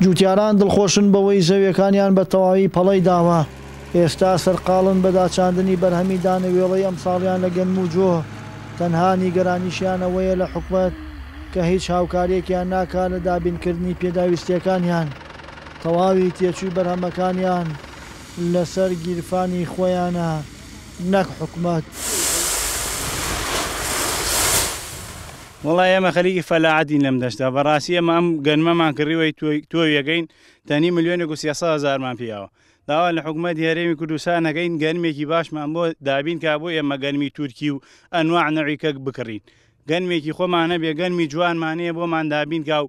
جووتیاران دڵخۆشن بەوەی زەویەکانیان بە تەواوی پەڵەی داوە، ئێستا سەرقاڵن بە داچاندنی بەرهەمی دانەوێڵەی ئەمساڵیان لە گەنم و جۆ، تەنها نیگەرانیشیان ئەوەیە لە حکومەت کە هیچ هاوکاریەکیان ناکات لە دابینکردنی پێداویستیەکانیان، تەواوی تێچووی بەرهەمەکانیان لەسەر گیرفانی خۆیانە. نەک حکومەت. وەڵا ئێمە خەریکی فەلاعەتین لەم دەشتە بەڕاستی ئێمە ئەم گەنمەمان کڕیوەی تۆویەکەین تەنی ملیۆنێک و سیاسە هزارمان پیاوە داوا لە حکوومەت هەرێمی کوردستانەکەین گەنمێکی باشمان بۆ دابین کا بۆ ئێمە گەنمی تورکی و ئەنواع نەویکەک بکڕین گەنمێکی خۆمانە بێ گەنمی جوانمانەیە بۆمان دابین کا و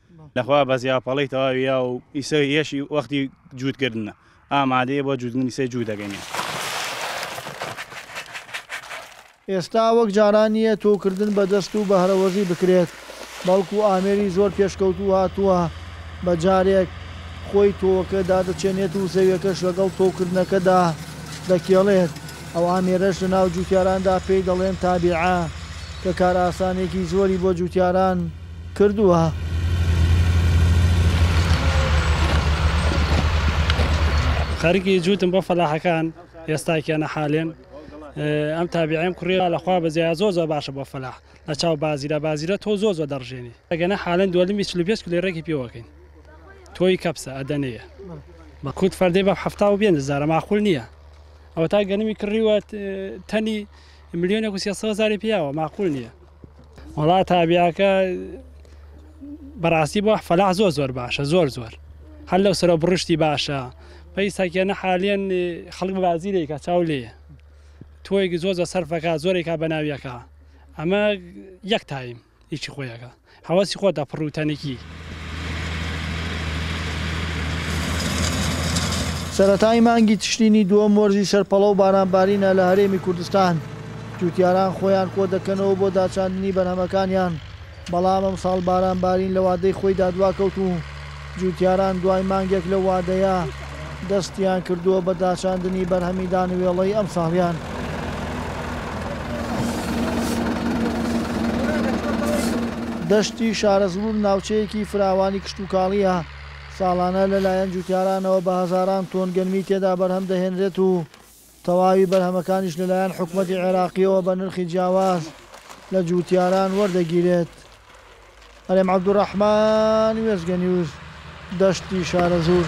لەخوا بەزیا پەڵەی تەواوی یا و ئیسە یەشی وەختی جووتکردنە ئامادەیە بۆ جووتنی سەی جوو دەگەنێ. ئێستا وەک جاران نییە تۆوکردن بە دەست و بەهرەوەزی بکرێت، بەڵکو ئامێری زۆر پێشکەوتوو هاتووە بە جارێک خۆی تۆوەکە دادەچێنێت و زەویەکەش لەگەڵ تۆوکردنەکەدا دەکێڵێت، ئەو ئامێرەش لە ناو جووتیاراندا پێی دەڵێن تابیعە کە کارئاسانێکی زۆری بۆ جووتیاران کردووە. خەریکی جووتم بۆ فەلاحەکان ئێستا کێنە حالێن ئەم تابیعیم کوڕیە لە خوا بەزیای زۆر زۆر باشە بۆ فەلاح لە چاو بازیرە بازیرە تۆ زۆر زۆر دەڕژێنی ئەگەنە حالەن دووەلمی چلو پێنج کلێ ڕێکی پێوەکەین تۆی کەپسە ئەدەنەیە بە کووت فەردەی بە حەفتا و بێن زارە ماقول نییە ئەوە تا گەنمی کڕیوە تەنی ملیۆنێک و سێسەوە زاری پیاوە ماقول نییە وەڵا تابیاکە بەڕاستی بۆ فەلاح زۆر زۆر باشە زۆر زۆر هەر لەو سەرە بڕشتی باشە پێی ساکێنە حالیان خەڵک بازی لێکە چاو لێ تۆیەکی زۆر زە سەرفەکە زۆرێکا بە ناویەکە ئەمە یەک تایم هیچی خۆیەکە هەوەسی خۆتە پڕوتەنێکی سەرەتای مانگی تشرینی دووەم وەرزی سەرپەڵە و بارانبارینە لە هەرێمی کوردستان، جووتیاران خۆیان کۆدەکەنەوە بۆ داچاندنی بەرهەمەکانیان، بەڵام ئەمساڵ بارانبارین لە وادەی خۆیدا دواکەوت و جووتیاران دوای مانگێک لەو وادەیە، دەستیان کردووە بە داچاندنی بەرهەمی دانوێڵەی ئەمساڵیان. دەشتی شارەزوور ناوچەیەکی فراوانی کشتوکاڵییە، ساڵانە لەلایەن جووتیارانەوە بە هەزاران تۆن گەنمی تێدا بەرهەم دەهێنرێت و، تەواوی بەرهەمەکانیش لەلایەن حکومەتی عێراقییەوە بە نرخی جیاواز لە جووتیاران وەردەگیرێت. هەرێم عەبدولڕەحمان وێستگە نیوز، دەشتی شارەزوور.